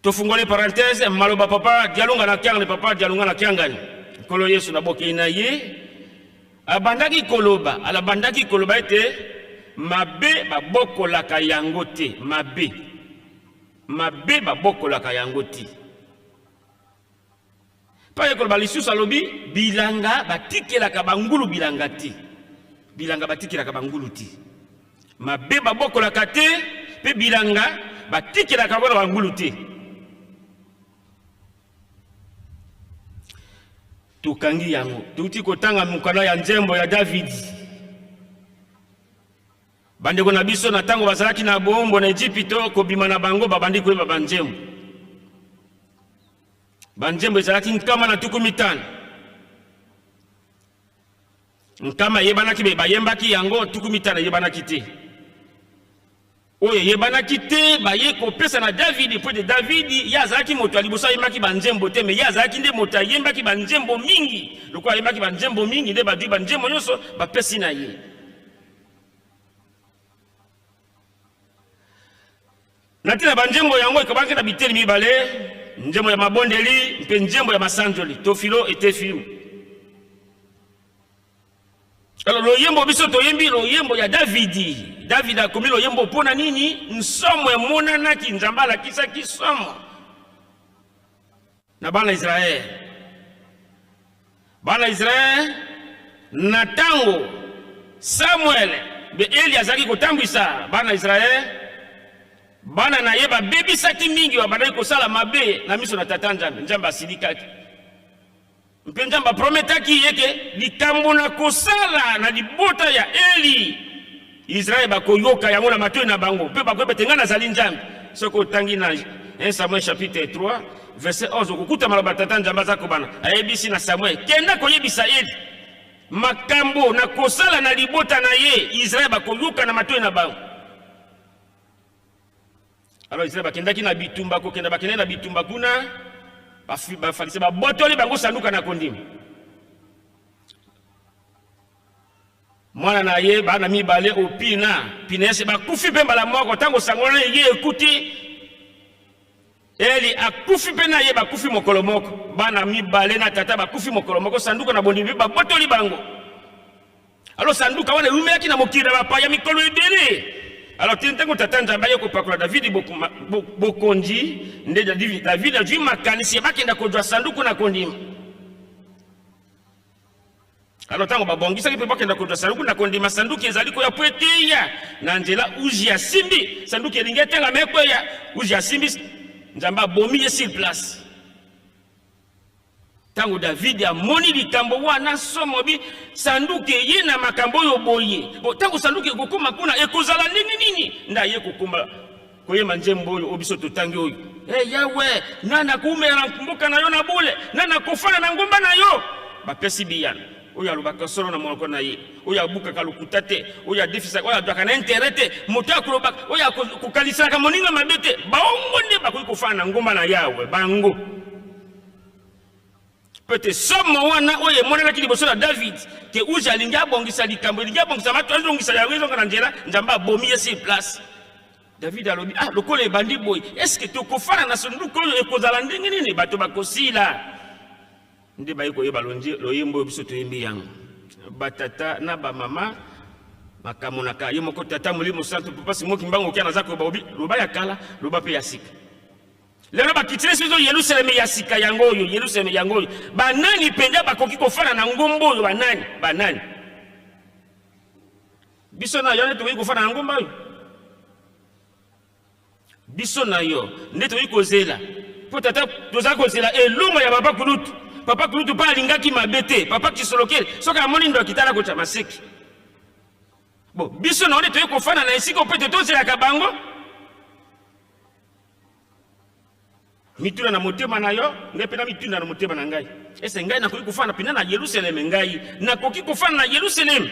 tofungoli parenthèse maloba papa dialunga na kiangani papa dialunga na kiangani nkolo yesu na bokei na ye abandaki koloba alabandaki koloba ete mabe babokolaka yango te mabe mabe babokolaka yango te Mpo aye koloba lisusu, alobi bilanga batikelaka bangulu bilanga te, bilanga batikelaka bangulu te, mabe babokolaka te, mpe bilanga batikelaka mpona bangulu te. tokangi yango touti kotanga mokanda ya nzembo ya davidi Bandeko na biso na ntango bazalaki na boombo na Ejipito, kobima na bango babandi koyeba banzembo. Banzembo ezalaki nkama na tuku mitano. Nkama eyebanaki be bayembaki yango, tuku mitano eyebanaki te. Oyo eyebanaki te baye kopesa na Davidi, mpo ete Davidi ye azalaki moto ya liboso ayembaki banzembo te, me ye azalaki nde moto ayembaki banzembo mingi. Lokola ayembaki banzembo mingi, nde badui banzembo nyonso bapesi na ye. na ntina banzembo yango ekabaki na biteni mibale nzembo ya mabondeli mpe nzembo ya masanzoli to filo etefiu alo loyembo biso toyembi loyembo ya davidi davidi akomi loyembo mpo na nini nsomo emonanaki nzambe alakisaki somo na bana Israele. Bana Israele na ntango Samuele mpe Eli azalaki kotambwisa bana Israele, bana na ye babebisaki mingi, babandaki kosala mabe na miso na Tata Nzambe. Nzambe asilikaki. Mpe Nzambe aprometaki ye ke likambo na kosala na libota ya Eli, Israele bakoyoka yango na matoi na bango, mpe bakoyeba te ngai nazali Nzambe. Soki otangi na 1 Samuel chapitre 3 verset 11 okokuta maloba tata Nzambe aza kobana, ayebisi na Samuel, kenda koyebisa Eli makambo na kosala na libota na ye, Israele bakoyoka na matoi na bango. Alors Israël bakendaki na bitumba kokenda bakendaki na bitumba kuna bafalise babotoli bango sanduka na kondima mwana na ye bana mibale opina pinese bakufi mpe mbala moko ntango sango na ye ekuti eli akufi mpe na ye bakufi mokolo moko bana mibale na tata bakufi mokolo moko sanduka na bondimi babotoli bango Alo sanduka wana eumelaki na mokili na bapaya mikolo ebele. Alo ti ntango tata Nzambe aye kopakola Davidi bokonzi, nde Davidi azwi makanisi ya bakenda kozwa sanduku na kondima. Alo ntango babongisaki mpe bakenda kozwa sanduku na kondima, sanduku ezali koya mpo eteya na nzela. Uzi asimbi sanduku, elingi etengama ekweya. Uzi asimbi, Nzambe abomi ye sur place. Ntango Davidi amoni likambo wana, somobi sanduku eye na makambo oyo boye. Bo ntango sanduku ekokoma kuna, ekozala ndenge nini? Nda ye kokoma koyema nzembo oyo oyo biso totangi oyo, e eh, Yawe, nani akoumela mboka na yo na bule? Nani akofanda na ngomba na yo? Bapesi biyano. oyo alobaka solo na monoko na ye oyo abukaka lokuta te oyo adefisaka oyo azwaka na intere te moto ya kolobaka oyo akokanisaka moninga mabe te bango nde bakoki kofana na ngomba na yawe bango pete somo wana oyo emonanaki liboso na david te uzi alingi abongisa likambo elingi abongisa bato azongisa yango ezonga na nzela nzambe abomi ye sur place david alobi ah lokola ebandi boye eske tokofana na sonduku oyo ekozala ndenge nini bato bakosila nde baye koyeba loyembo oyo biso toyembi yango batata na bamama bakamonaka ye moko tata molimo santu papa simo kimbangu kia naza koyeba obi loba ya kala loba mpe ya sika lelo bakitile soki ozo yelusaleme ya sika yango oyo yelusaleme yango oyo banani mpenza bakoki kofana na ngomba oyo banani banani biso na yo nde tokoki kofana na ngomba oyo biso na yo nde tokoki kozela mpo tata toza kozela elongo ya papa kulutu papa kulutu mpe alingaki mabe te papa kisolokele soki amoni ndo akitala kotya maseki bo biso na yo nde toyei kofana na esika mpe te tozelaka bango mituna na motema na yo ngai mpe na mituna na motema na ngai ese ngai nakoki kofana mpena na yerusaleme ngai nakoki kofana na yerusaleme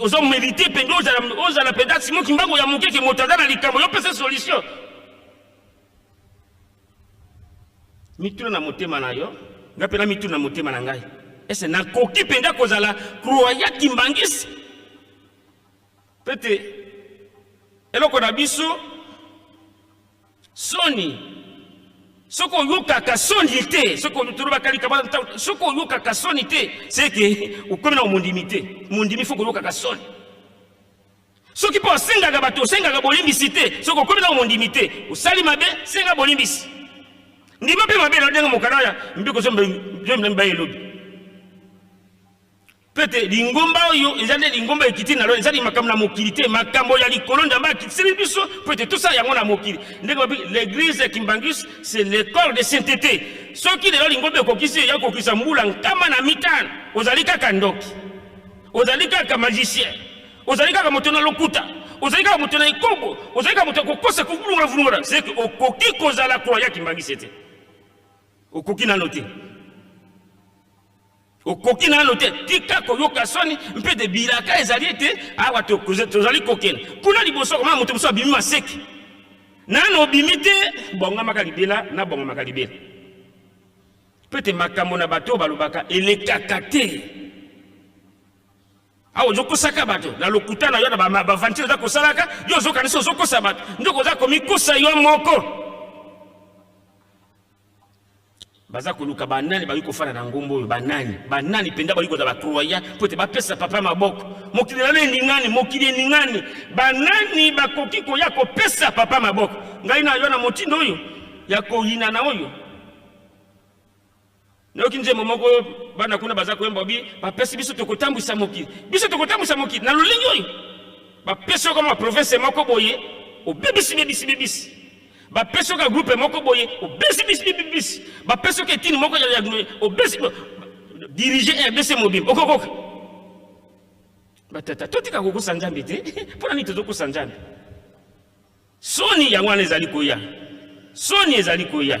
ozo merite mpenza ozala ozala mpenza simo kimbangu ya moke ke moto aza na likambo yo pesa solution mituna na motema na yo nga mpe na mituna na motema na ngai ese nakoki mpenza kozala kroya kimbangisi mpe te eloko na biso soni soki oyokaka soni te soki tolobaka likaba soki oyokaka soni te seke okomi na mondimi te mondimi fo koyokaka soni soki mpo osengaka bato osengaka bolimbisi te soki okomi na mondimi te osali mabe senga bolimbisi ndima mpe mabe na ndenge mokana ya mpe kozomba elobi mpe te lingomba oyo eza nde lingomba ekiti na lola ezali makambo na mokili te makambo ya likolo nzambe akitiseli biso mpo ete tosala yango na mokili ndenge babi l'église ya kimbangus c'est l'école de sainteté soki lelo lingomba ekokisi eya kokisa mbula nkama na mitano ozali kaka ndoki ozali kaka magicien ozali kaka moto na lokuta ozali kaka moto na ekobo ozali kaka moto ya kokosa kovulungala vulungala seke okoki kozala kroya kimbanguise te okoki nano te okoki nano te tika koyoka soni mpe te bilaka ezali ete awa tozali kokende kuna liboso koma moto mosusu abimi maseki nano obimi te bongamaka libela na bongamaka libela mpo ete makambo na bato oyo balobaka elekaka te awa ozokosaka bato na lokuta na yo na bavantire oza kosalaka yo ozokanisa ozokosa bato ndoko oza komikosa yo moko baza koluka banani bakoki kofanda na ngomba oyo banani banani mpenza bakoki kozala bacroya mpo ete bapesa papa maboko mokili nano eningani mokili eningani banani bakoki koya kopesa papa maboko ngai na yo na motindo oyo ya koyinana oyo nayoki nzembo moko oyo bana kuna baza koyemba bi bapesi biso tokotambwisa mokili biso tokotambwisa mokili na lolenge oyo bapesi yo kama province moko boye obebisi bebisi bebisi bapesi oka groupe moko boye obesi bisibibisi bapesi oka etini moko obesi dirige rdc mobimba okokoka batata totika kokosa nzambe te mpo na nini tozokosa nzambe soni yango wana ezali koya soni ezali koya